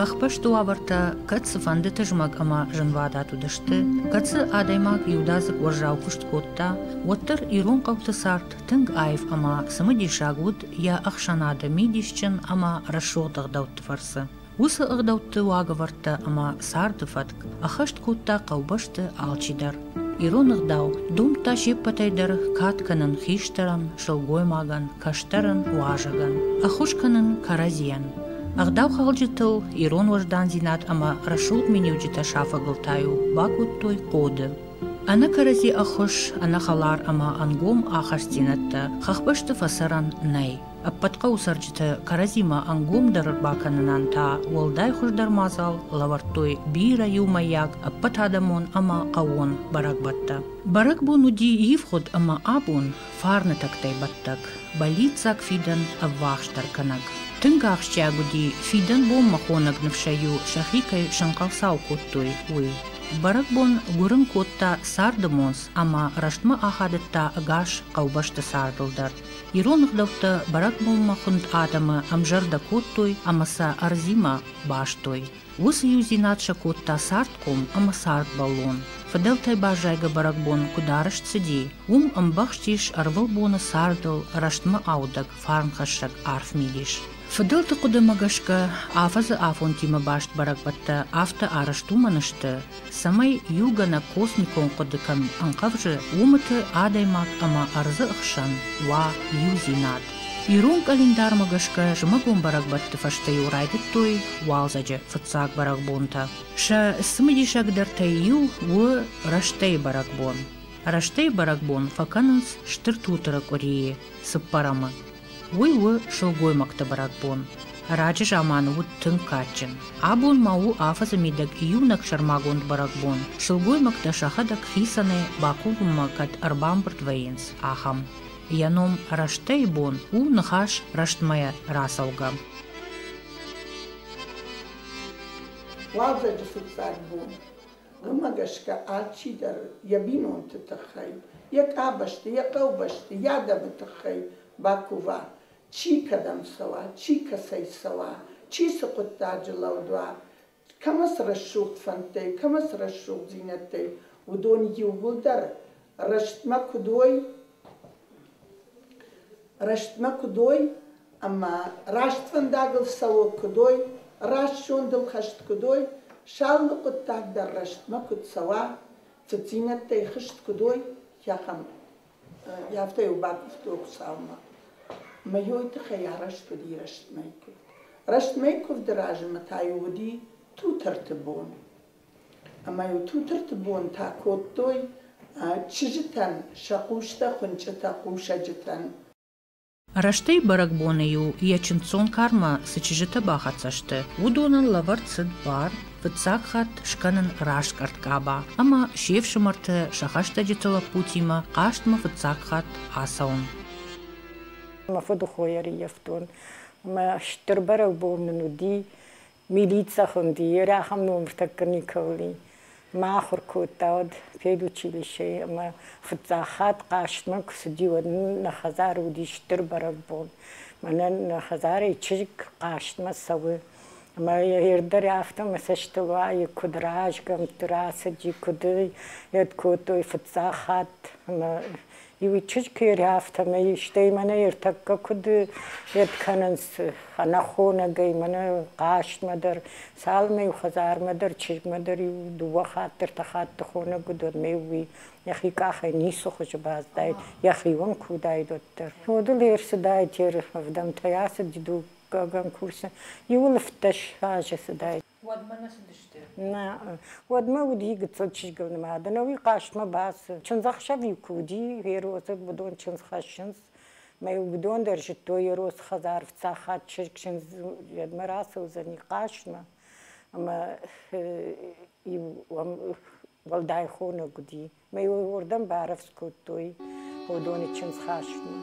Хӕхбӕсты уавӕртӕ кӕд цыфӕнды тызмӕг ӕмӕ зынвадат уыдысты, кӕцы адӕймаг иудадзыг уӕззау куыст кодта, уӕддӕр ирон хъӕуты цард тынг аив ӕмӕ цымыдисаг уыд йӕ ӕхсӕнады мидисджын ӕмӕ рӕсугъд ӕгъдӕутты фӕрцы. Уыцы ӕгъдӕутты уагӕвӕрдтӕ ӕмӕ царды фӕтк ӕххӕст кодта хъӕубӕсты алчи дӕр. Ирон ӕгъдау домдта се ппӕтӕй дӕр кад кӕнын хистӕрӕн, сылгоймагӕн, кӕстӕрӕн, уазӕгӕн, ӕххуыс кӕнын кӕрӕдзийӕн. Ӕгъдаухалджытыл ирон уӕздандзинад ӕмӕ рӕсугъд миниуджытӕ сафӕгыл та иу бакодтой ходы. Ӕнӕ кӕрӕдзи ӕххуыс, ӕнӕхӕлар ӕмӕ ӕнгом ахастдзинӕдтӕ хӕхбӕсты фӕцӕрӕн нӕй. Ӕппӕт хъӕуы цӕрджытӕ кӕрӕдзимӕ ӕнгомдӕр бакӕнынӕн та уӕлдай хуыздӕр мадзал лӕвӕрдтой бирӕ иумӕйаг, ӕппӕтадӕмон ӕмӕ хъӕууон бӕрӕгбӕттӕ. Бӕрӕгбон уыди ивгъуыд ӕмӕ абон фарны тӕгтӕй бӕттӕг, бӕллиццаг фидӕн ӕввахсдӕр кӕнӕг. Тынг ахсджиаг уыди, фидӕн бонмӕ хонӕг ныфсӕй-иу сӕхи кӕй сӕнхъӕлцау кодтой, уый. Бӕрӕгбон гуырын кодта царды монц ӕмӕ рӕстмӕ ахадыдта ӕгас хъӕубӕсты цардыл дӕр. Ирон ӕгъдӕуттӕ бӕрӕгбонмӕ хуынд адӕмы ӕмзӕрдӕ кодтой ӕмӕ сӕ ӕрдзимӕ бастой. Уыцы иудзинад сӕ кодта цардхъом ӕмӕ цардбӕллон. Фыдӕлтӕй баззайгӕ бӕрӕгбон куыд арӕзт цыди, уым ӕмбӕхст ис ӕрвылбоны цардыл рӕстмӕ аудӕг фарнхӕссӕг арф мидис. Фыдӕлты хъуыдымӕ гӕсгӕ, афӕдзы афонтимӕ баст бӕрӕгбӕттӕ афтӕ арӕзт уымӕн сты, цӕмӕй иугӕнӕг космикон хъуыдытӕм ӕнхъӕвзы, уымыты адӕймаг ӕмӕ ӕрдзы ӕхсӕн уа иудзинад. Ирон къӕлиндармӕ гӕсгӕ зымӕгон бӕрӕгбӕтты фӕстӕ-иу райдыдтой уалдзӕджы фыццаг бӕрӕгбонтӕ. Сӕ цымыдисагдӕртӕй иу у рӕстӕйы бӕрӕгбон. Рӕстӕйы бӕрӕгбон фӕкӕнынц Стыр Тутыры къуырийы цыппӕрӕмы. Уый у сылгоймӕгты бӕрӕгбон. Раджы заманы уыд тынг кадджын. Абон ма у афӕдзы мидӕг июнаг сӕрмагонд бӕрӕгбон. Сылгоймӕгтӕ сӕхӕдӕг хицӕнӕй бакувынмӕ кӕд ӕрбамбырд вӕййынц, ахӕм. Йӕ ном рӕстӕй бон у ныхас рӕстмӕ рацӕугӕ. Уалдзӕджы фыццаг бон. уымӕ гӕсгӕ алчидӕр йӕ бинонты тыххӕй, йӕ къабӕзты, йӕ хъӕубӕсты, йӕ адӕмы тыххӕй бакува, чи кӕдӕм цӕуа, чи кӕцӕй цӕуа, чи цы хъуыддаджы лӕуд уа, кӕмӕ цы рӕсугъд фӕндтӕй, кӕмӕ цы рӕсугъддзинӕдтӕй, уыдон иууылдӕр рӕстмӕ куыд уой, рӕстмӕ куыд уой ӕмӕ раст фӕндагыл цӕуӕг куыд уой, раст зондыл хӕст куыд уой, сӕ алы хъуыддаг дӕр рӕстмӕ куыд цӕуа, цыдзинӕдтӕй хызт куыд уой, ахӕм. Афтӕ-иу бакуывтой Хуыцаумӕ. Ӕмӕ йой тыххӕй арӕзт уыди рӕстмӕйы куывд. Рӕстмӕйы куывды размӕ та-иу уыди Тутырты бон. ӕмӕ-иу тутырты бон та кодтой чызджытӕн сӕ хъустӕ хуынчъытӕ хъусӕджытӕн. Растӕй бӕрӕгбоны-иу йӕ чындздзон кармӕ цы чызджытӕ бахӕццӕ сты, уыдонӕн лӕвӕрд цыд бар фыццаг хатт скӕнын раскъӕрд къаба ӕмӕ се фсымӕрты сӕ хӕстӕджыты лӕппутимӕ хъазтмӕ фыццаг хатт ацӕуын. Мӕ фыдыхо ӕрыййӕфтон ӕмӕ стыр бӕрӕгбон нын уыди Милицӕ хунди, е рахам номиртӕккӕ никӕули ма ахур кодтауӕд педучилищей ӕма фиццаг хатт хъастмӕ ку цуди, уӕд нин нӕ хӕдзар уди стур бӕрӕгбон. Мӕнӕн нӕ хӕдзарӕй чызг хъастмӕ цӕуй. Ӕма е дӕр афтӕ мӕ цӕстӕ уайи, куд разгӕмтти рацӕди, куд ӕй ед кодтой фиццаг хатт. Ӕма Иу чызг куы ӕры, афтӕмӕй, стӕй мӕнӕ ӕртӕккӕ куыд ӕркӕнынц ӕнӕхонӕгӕй мӕнӕ хъазтмӕ дӕр, цалынмӕ-иу хӕдзармӕ дӕр, чызгмӕ дӕр-иу дыууӕ хатт, ӕртӕ хатты хонӕг уыд, уӕдмӕ-иу уый йӕхи къахӕй ницы хуызы баздаид, йӕхион куы уыдаид, уӕддӕр. Фодыл ӕрцыдаид, ӕрвӕвдӕмтӕй ацыд дыууӕгӕм курсы, иуыл ӕвддӕс азы цыдаид. Уӕдмӕ нӕ цыдысты? Нӕ. Уӕдмӕ уыди гыццыл чызгыл нымад, ӕнӕуи хъазтмӕ бацыд. Чындзӕхсӕв-иу куы уыди, Еросыг уыдон чындз хӕссынц, мӕ-иу уыдон дӕр зыдтой, Еросы хӕдзар фыццаг хатт чызг чындзмӕ рацӕудзӕни хъазтмӕ. Ӕмӕ-иу уӕлдай хонӕг уыди. Мӕ йыл уырдӕм барӕвдз кодтой Ходоны чындзхастмӕ.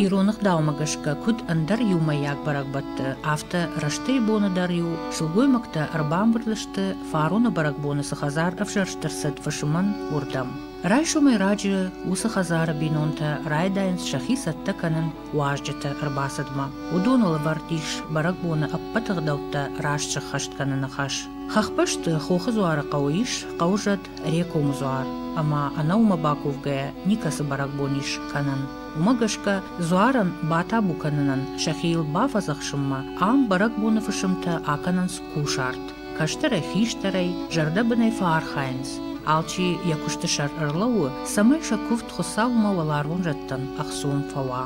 Ирон ӕгъдаумӕ гӕсгӕ, куыд ӕндӕр иумӕйаг бӕрӕгбӕтты, афтӕ рӕстӕй боны дӕр-иу сылгоймӕгтӕ ӕрбамбырд сты фароны бӕрӕгбоны цы хӕдзар ӕвзӕрст ӕрцыд фысымӕн уырдӕм. Райсомӕй раджы уыцы хӕдзары бинонтӕ райдайынц сӕхи цӕттӕ кӕнын уазджыты ӕрбацыдмӕ. Уыдон ӕлӕвӕрд ис бӕрӕгбоны ӕппӕт ӕгъдӕуттӕ раст сыххӕст кӕныны хӕс. Хӕхбӕсты Хохы дзуары хъӕуы ис хъӕузӕд Рекомы дзуар ӕмӕ ӕнӕуымӕ бакувгӕйӕ никӕцы бӕрӕгбон ис кӕнӕн. Уымӕ гӕсгӕ дзуарӕн батабу кӕнынӕн сӕхиыл бафӕдзӕхсынмӕ ам бӕрӕгбоны фысымтӕ акӕнынц кусарт. Кӕстӕрӕй, хистӕрӕй зӕрдӕбынӕй фӕархайынц, алчи йӕ куысты сӕр ӕрлӕууы, цӕмӕй сӕ куывд Хуыцаумӕ уӕларвон зӕдтӕн ӕхцон фӕуа.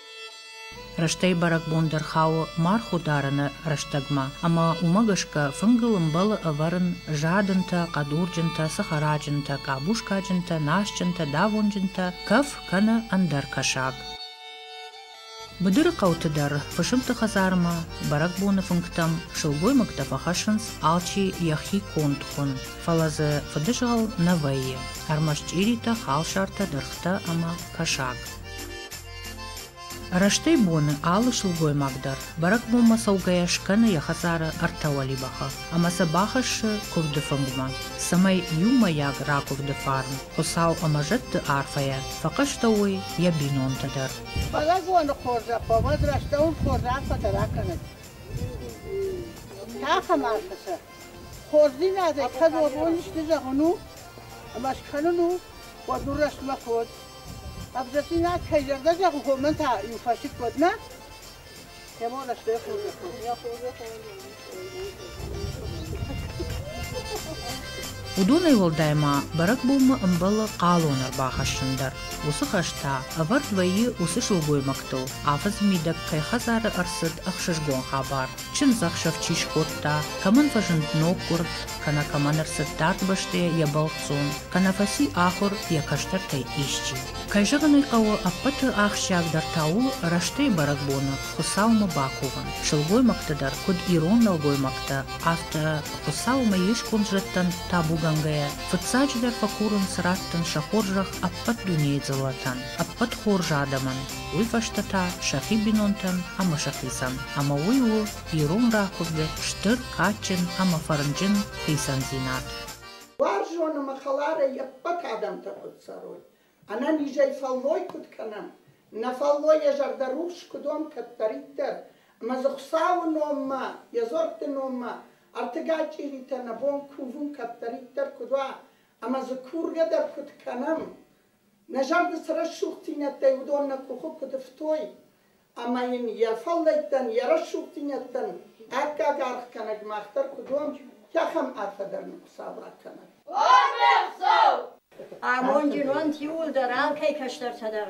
Рӕстӕй бӕрӕгбон дӕр хауы мархъ ударыны рӕстӕгмӕ, ӕмӕ уымӕ гӕсгӕ фынгыл ӕмбӕлы ӕвӕрын жадынтӕ, хъӕдурджынтӕ, сыхараджынтӕ, къабускаджынтӕ, насджынтӕ, давонджынтӕ, кӕф кӕнӕ ӕндӕр кӕсаг. Быдыры хъӕуты дӕр Фысымты хӕдзармӕ бӕрӕгбоны фынгтӕм сылгоймӕгтӕ фӕхӕссынц алчи йӕхи конд хуын, фӕлӕ дзы фыдызгъӕл нӕ вӕййы, ӕрмӕст чъиритӕ, халсартӕ, дыргътӕ ӕмӕ кӕсаг. Рӕстӕй боны алы сылгоймаг дӕр бӕрӕгбонмӕ цӕугӕйӕ скӕны йӕ хӕдзары ӕртӕ уӕлибӕхы ӕмӕ сӕ бахӕссы куывды фынгмӕ, цӕмӕй иумӕйаг ракуывды фарн, Хуыцау ӕмӕ зӕдты арфӕйӕ фӕхъӕстӕуой йӕ бинонтӕ дӕр. Бӕрӕгбоны хорз ӕрхъомӕд рӕстӕуын хорз арфӕтӕ ракӕнӕд! Цахӕм арфӕ сӕ! Хорздзийнадӕ кӕдзоруон исти зӕгъун у, ӕма скӕнун у, уӕд нур рӕстмӕ код. Ӕвзӕрдзийнад кӕй зӕрдӕ зӕгъун, хомӕн та иу фӕсик код, нӕ? Кемо рӕстӕй Уыдонӕй уӕлдай ма бӕрӕгбонмӕ ӕмбӕлы хъалон ӕрбахӕссын дӕр. Уыцы хӕс та ӕвӕрд вӕййы уыцы сылгоймӕгтыл, афӕдзы мидӕг кӕй хӕдзары ӕрцыд ӕхсызгон хабар. Чындзӕхсӕв чи скодта, кӕмӕн фӕзынд ноггуырд, кӕнӕ кӕмӕн ӕрцыд дард бӕстӕйӕ йӕ бӕлццон, кӕнӕ фӕци ахуыр йӕ кӕстӕртӕй исчи. Кӕй зӕгъын ӕй хъӕуы, ӕппӕты ахсджиагдӕр та у, рӕстӕй бӕрӕгбоны Хуыцаумӕ бакувын. Сылгоймӕгты дӕр, куыд ирон нӕлгоймӕгтӕ, афтӕ Хуыцаумӕ йе сконд зӕдтӕн табугӕнгӕйӕ, фыццаджыдӕр фӕкурынц радтын сӕ хорзӕх ӕппӕт дунейы дзыллӕтӕн, ӕппӕт хорз адӕмӕн. уый фӕстӕ та сӕхи бинонтӕн ӕмӕ сӕхицӕн, ӕмӕ уый у ирон ракуырды стыр, адджын ӕмӕ фӕрнджын хицӕндзинад. Уарзон ӕмӕ хӕларӕй йе ппӕт адӕмтӕ куыд цӕрой, ӕнӕнизӕй фӕллой куыд кӕнӕм, нӕ фӕллой йӕ зӕрдӕ рухс куыд уӕм кӕддӕриддӕр, ӕмӕ дзы Хуыцауы номмӕ, йӕ дзуӕртты номмӕ ӕртыгай чъиритӕ нӕ бон кувын кӕддӕриддӕр куыд уа ӕмӕ дзы кургӕ дӕр куыд кӕнӕм, Нӕ зӕрды цы рӕсугъддзинӕдтӕй уыдон нӕ къухы куыд ифтой ӕмӕ йын йӕ фӕллӕйттӕн, йӕ рӕсугъддзинӕдтӕн аккаг аргъ кӕнӕг мах дӕр куыд уӕм, кӕхӕм арфӕ дӕр нын Хуыцауад кӕнӕд. Орден Хуыцау! Амондджын уӕнт иууылдӕр, алкӕй кӕстӕртӕ дӕр.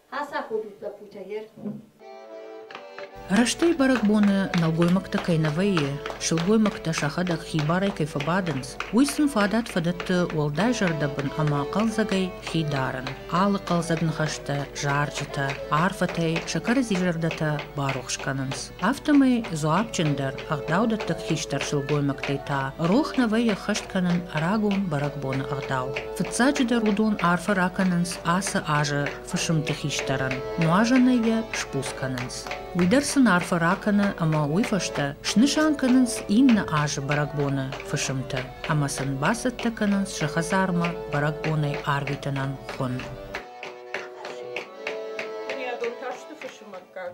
Ацаходут лӕппутӕ ер. Рӕстӕй бӕрӕгбоны нӕлгоймӕгтӕ кӕй нӕ вӕййы, сылгоймӕгтӕ сӕхӕдӕг хибарӕй кӕй фӕбадынц, уый сын фадат-фадӕтты уӕлдай зӕрдӕбын ӕмӕ хъӕлдзӕгӕй хи дарын. Алы хъӕлдзӕг ныхӕстӕ, зарджытӕ, арфӕтӕй сӕ кӕрӕдзи зӕрдӕтӕ барухс кӕнынц. Афтӕмӕй дзуапджындӕр ӕгъдаудӕтты хистӕр сылгоймӕгтӕй та рох нӕ вӕййы ӕххӕст кӕнын рагон бӕрӕгбоны ӕгъдау. Фыццаджыдӕр уыдон арфӕ ракӕнынц ацы азы фысымты хистӕрӕн, нуазӕнӕй йӕ сбуц кӕнынц. Уый дӕр сын арфӕ ракӕны ӕмӕ уый фӕстӕ снысан кӕнынц иннӕ азы бӕрӕгбоны фысымты ӕмӕ сын бацӕттӕ кӕнынц сӕ хӕдзармӕ бӕрӕгбонӕй арвитынӕн хуын. Бынӕттон тарсты фысымӕггаг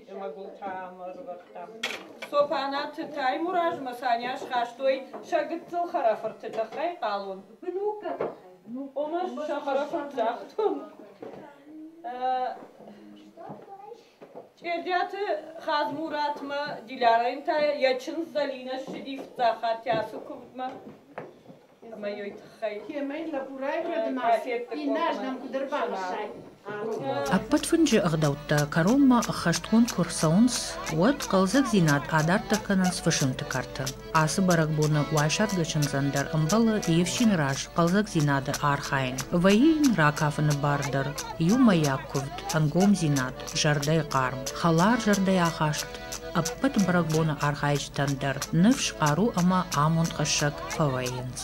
ӕмӕ гуылтӕ ам ӕрывӕрдтам. Цопанаты Таймуразмӕ Саня схастой сӕ гыццыл хӕрӕфырты тыххӕй хъалон. Бынуккаг тыххӕй. Ома сӕ хӕрӕфырт загътон. Чъердиаты Хадзмуратмӕ Дилярӕн та йӕ чындз Зӕлинӕ ссыди фыццаг хатт йӕ ацы куывдмӕ. ӕмӕ йой тыххӕй. Кӕмӕй лӕбурай фӕдымӕ, иннӕрдӕм куыд ӕрбамӕссай? Ӕппӕт фынджы ӕгъдӕуттӕ кӕронмӕ ӕххӕстгонд куы рцӕуынц, уӕд хъӕлдзӕгдзинад адарддӕр кӕнынц фысымты кӕрты. Ацы бӕрӕгбоны уайсадгӕ чындзӕн дӕр ӕмбӕлы йе фсины раз хъӕлдзӕгдзинады архайын. Вӕййы йын ракафыны бар дӕр, иумӕйаг куывд, ӕнгомдзинад, зӕрдӕйы хъарм, хӕлар зӕрдӕйы ахаст. Ӕппӕт бӕрӕгбоны архайджытӕн дӕр ныфс, хъару ӕмӕ амонд хӕссӕг фӕвӕййынц.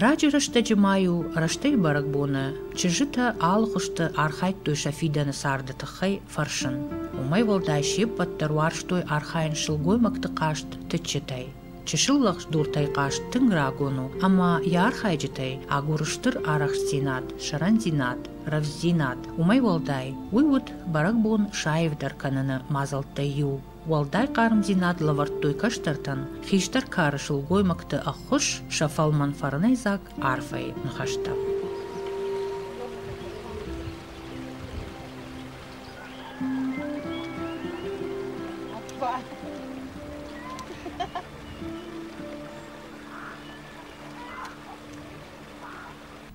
Раджы рӕстӕджы ма-иу рӕстӕй бӕрӕгбоны чызджытӕ алыхуызты архайдтой сӕ фидӕны царды тыххӕй фӕрсын. Уымӕй уӕлдай се ппӕт дӕр уарзтой архайын сылгоймӕгты хъазт тыччытӕй. Чысыл лӕгдуртӕй хъазт тынг рагон у, ӕмӕ йӕ архайджытӕй агуры стыр арӕхстдзинад, сӕрӕндзинад, рӕвдздзинад. Уымӕй уӕлдай, уый уыд бӕрӕгбон саивдӕр кӕныны мадзӕлттӕй иу. Уӕлдай хъармдзинад лӕвӕрдтой кӕстӕртӕн хистӕр кары сылгоймӕгты ӕххуыс сӕ фӕлмӕн фӕрнӕйдзаг арфӕйы ныхӕстӕ. Опа!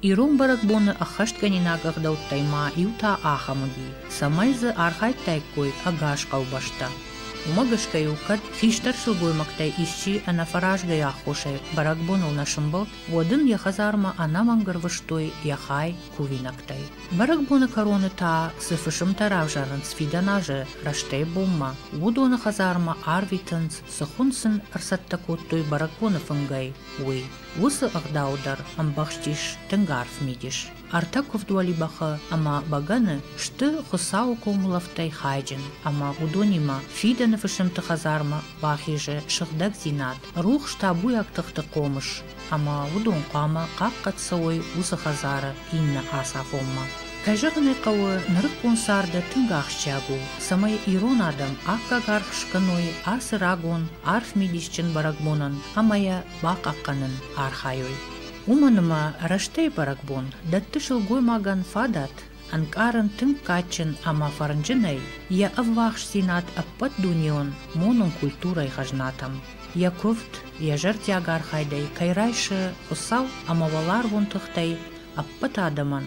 Ирон бӕрӕгбоны ӕххӕстгӕнинаг ӕгъдӕуттӕй ма иу та ахӕм уыди, цӕмӕй дзы архайдтаиккой ӕгас хъӕубӕстӕ. Уымӕ гӕсгӕ-иу кӕд хистӕр сылгоймӕгтӕй исчи ӕнӕфӕразгай аххосӕй бӕрӕгбоныл нӕ сымбылд, уӕд ын йӕ хӕдзармӕ ӕнӕмӕнг ӕрвыстой йӕ хай кувинӕгтӕй. Бӕрӕгбоны кӕроны та цы фысымтӕ равзарынц фидӕн азы рӕстӕй-бонмӕ, уыдоны хӕдзармӕ арвитынц, цы хуын сын ӕрцӕттӕ кодтой бӕрӕгбоны фынгӕй, уый. Уыцы ӕгъдау дӕр ӕмбӕхстис тынг арф мидис. Ӕртӕ куывд уӕлибӕхы ӕмӕ бӕгӕны сты Хуыцауы комулӕфтӕй хайджын, ӕмӕ уыдонимӕ фидӕны фысымты хӕдзармӕ бахизы сыгъдӕгдзинад, рухс табуйаг тыхты хъомыс, ӕмӕ уыдон хъуамӕ хъахъхъӕд цӕуой уыцы хӕдзары иннӕ ацафонмӕ. Ӕзӕгъын ӕй хъӕуы, нырыккон царды тынг ахсджиаг у, цӕмӕй ирон адӕм аккаг аргъ скӕной ацы рагон, арф мидисджын бӕрӕгбонӕн ӕмӕ йӕ бахъахъхъӕнын архайой. Уымӕн ӕмӕ рӕстӕй бӕрӕгбон дӕтты сылгоймагӕн фадат ӕнкъарын тынг кадджын ӕмӕ фӕрнджынӕй йӕ ӕввахсдзинад ӕппӕтдунеон монон культурӕйы хӕзнатӕм. Йӕ куывд, йӕ зӕрдиаг архайдӕй кӕй райсы Хуыцау ӕмӕ уӕларвон тыхтӕй ӕппӕт адӕмӕн,